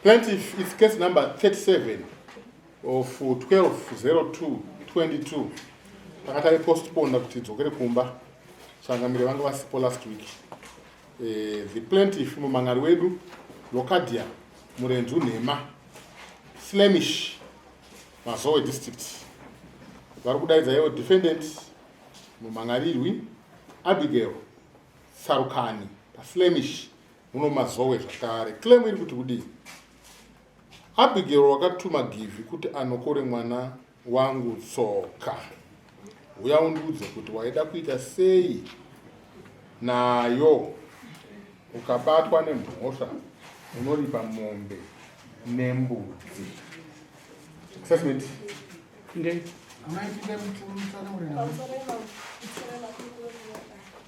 Plaintiff is case number 37 of 120222 takatari postponed kuti dzokere kumba changamire vanga vasipo last week eh, the plaintiff mumhan'ari wedu locadia murenzu nhema flemish mazowe district vari kudaidza ivo defendant mumhan'arirwi abigail Tsarukani paFlemish muno mazowe zvakare. Claim iri kuti kudii? Abigail wakatuma Givhi kuti anokore mwana wangu tsoka. Huya undiudze kuti waida kuita sei nayo ukabatwa nemhosva unoripa mombe nembudzi assessment ndeyi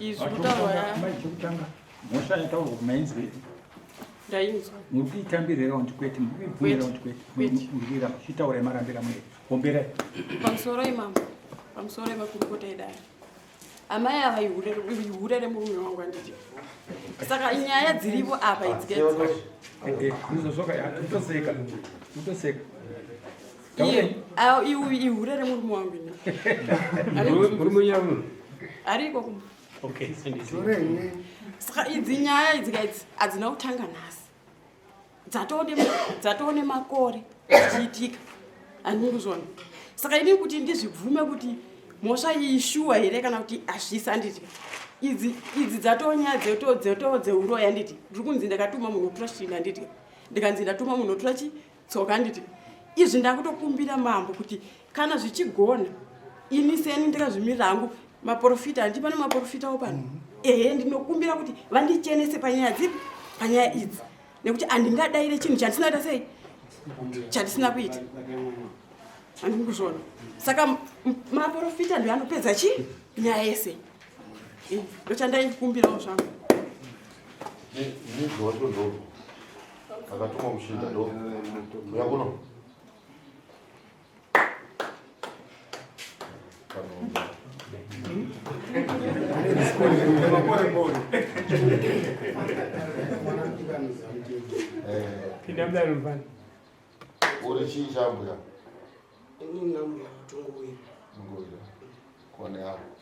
izwi kutaurwa yamai chekutanga mhosva yataurwa kumainzwa iri ndainzwa muri kuitambira here kuti kwete muri kuibvumira kuti kwete murira muchitaura yemarambira mune hombera pamusoro imambo pamusoro yemakurukota edare amai ava ihure remurume wangu anditi saka nyaya dziripo apa idzikaizozvoka yatoseka totoseka ihure remurume wangu ariko kuma saka idzi nyaya idzika idzi hadzina kutanga nhasi dzatoo nemakore dzichiitika andikuzvona saka ini kuti ndizvibvume kuti mhosva iyi shuwa here kana kuti hazvisi anditi idzi idzi dzatonya dzeto dzeto dzeuroyi anditi ndiri kunzi ndakatuma munhu otora chii anditi ndikanzi ndatuma munhu otora chii tsoka handiti izvi ndakutokumbira mambo kuti kana zvichigona ini seni ndikazvimirira hangu maprofita handii pane maprofitawo pano mm -hmm. ehe ndinokumbira kuti vandichenese panyaya dzipi panyaya idzi nekuti handingadaire chinhu chandisina kuita sei chandisina kuita handii kuzvona saka maprofita ndio anopedza chii nyaya yese ndochandaikumbirawo zvangu Akatumwa muchinda ndo. Uya kuno. Pinda mdani mfana. Uri chii chambuya? Ini nambuya tunguwira. Tunguwira. Kone hapo.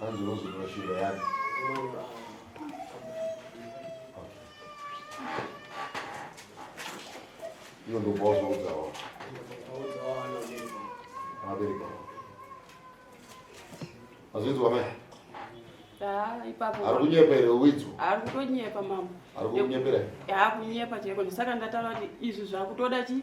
Hanzi unozotora shinga yake. Iyo ndo boss waudzawo. Abereka. Azvinzwa mai? Ah, ipapo. Ari kunyepa here uwidzo? Ari kutonyepa mama. Ari kunyepera? Yaa kunyepa chaiko ndisaka ndataura kuti izvi zvakutoda chi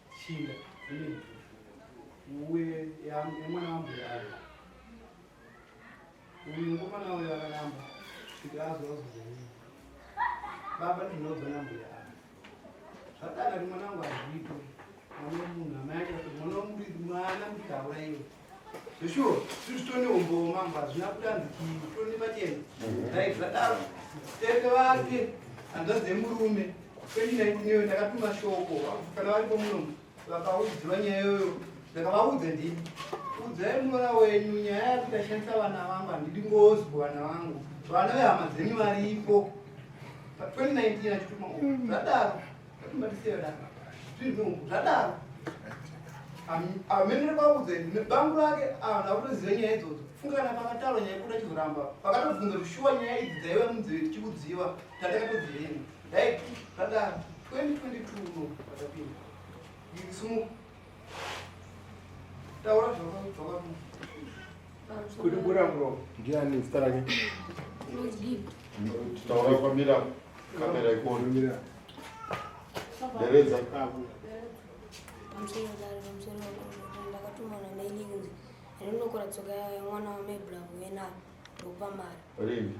Chinda. Uye yamwana wangu yayo. Uyu mukomana uyu akaramba kuti azozozonii. Baba ndinobva nambuya avo. Zvakadaro mwana wangu hazviitwe. Mwana wemunhu amai ake kuti mwana womuriri mwana mutaura iwe. Zveshuwo, zviri tone umbowo mambo hazvina kudanzi tone pachena. Dai zvadaro, tete vake hanzvadzi yemurume kwendi naitineyo ndakatuma shoko kana varipo muno vakaudziwa nyaya yoyo ndakavaudza ndii udzai muroora wenyu nyaya yakuti ndashandisa vana vangu handidi ngozi kuvana vangu vana vehama dzenyu varipo pa 2019 achituma zvadaro zvadaro amene kwaudza nebangu rake anhu akutoziva nyaya idzodzo fungana pakataura nyaya kuda chizoramba pakatobvunza kuti shuwa nyaya idzi dzaiva munzeve tichikudziva tandakatodziveni dai zvadaro 2022 no patapinda sumuka Taura zvakakudzoka kuti bura muromo ndiani zita rake taura kwamira kamera ikuonimira deredza ndakatumana maili kunzi rinokora tsoka mwana wamai bravo yenaro ndokupa mari rini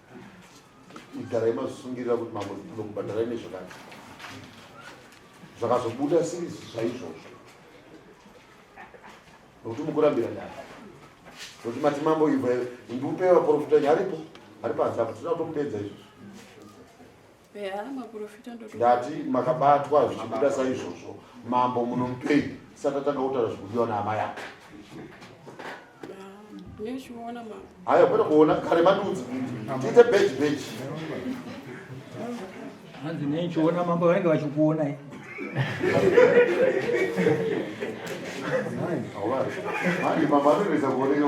igarai mazvisungirira kuti mambo ndinokubhadharai nezvakati zvakazobuda sirisi zvaizvozvo nokuti mukurambira nyaya nokuti mati mambo ibva ndiupewa porofita nyaripo ari panze apa tinoda kutomupedza izvozvo ndati makabatwa zvichibuda saizvozvo mambo munomupei saka tanga kutaura zvikudiwa naamai ako haya kwete kuona kare madudzi tiite beji beji hanzi nei chiona mambo vanenge vachikuona manje mambo anoendesa kuoneka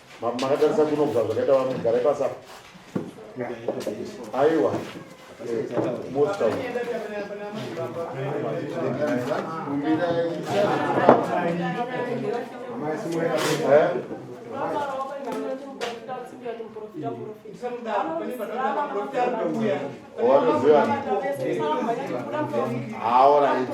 makatarisa kunobva zvakaita vamwe garai pasa aiwa wanoziva aoraiti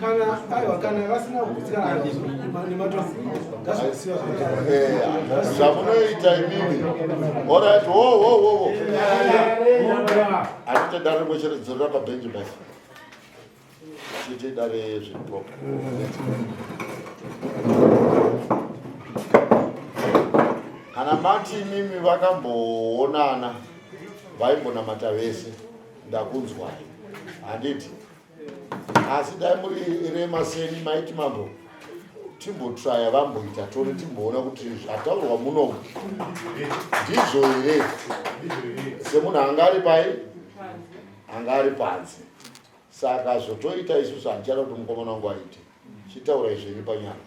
kana aiwa kana vasina kukutsirana nematombo ngazvisiya zvamunoita imimi orit wo wo wo wo anoita dare rimwe chete dzorera pabhenji basi chiite dare zveplop kana mati imimi vakamboonana vaimbonamata vese ndakunzwai handiti asi dai muri rema seni maiti mambo timbotraya vamboita tone timboona kuti zvataurwa munomu ndizvo here semunhu anga ari pai anga ari panze saka zvotoita isusu handichada kuti mukomana wangu aite chitaura izviri panyama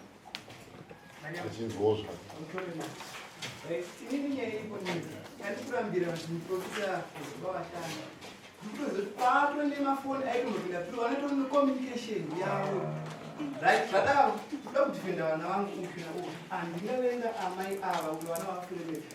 achinzwawo zvake inini nyaya iripo nini yandikurambira kuti muprofita vavatanga ndikutozoti kwato nemafoni aitomapinda tiri vanoto necommunication yavo right zvadaro toda kudhifenda vana vangu upi na upi andingavenga amai ava kuti vana vakuremeaa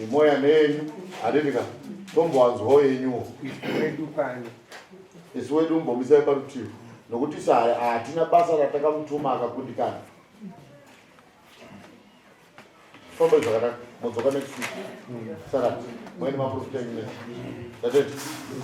Nemoya nenyu handiti ka tombowanzwawo yenyuwo. Wedu pano. Isu wedu mbomisai parutivi nokuti sahaya hatina basa ratakamutuma akakundikana. Famba zvakanaka modzoka next week. Sarati. Mweni maprofita nyine. Tatete.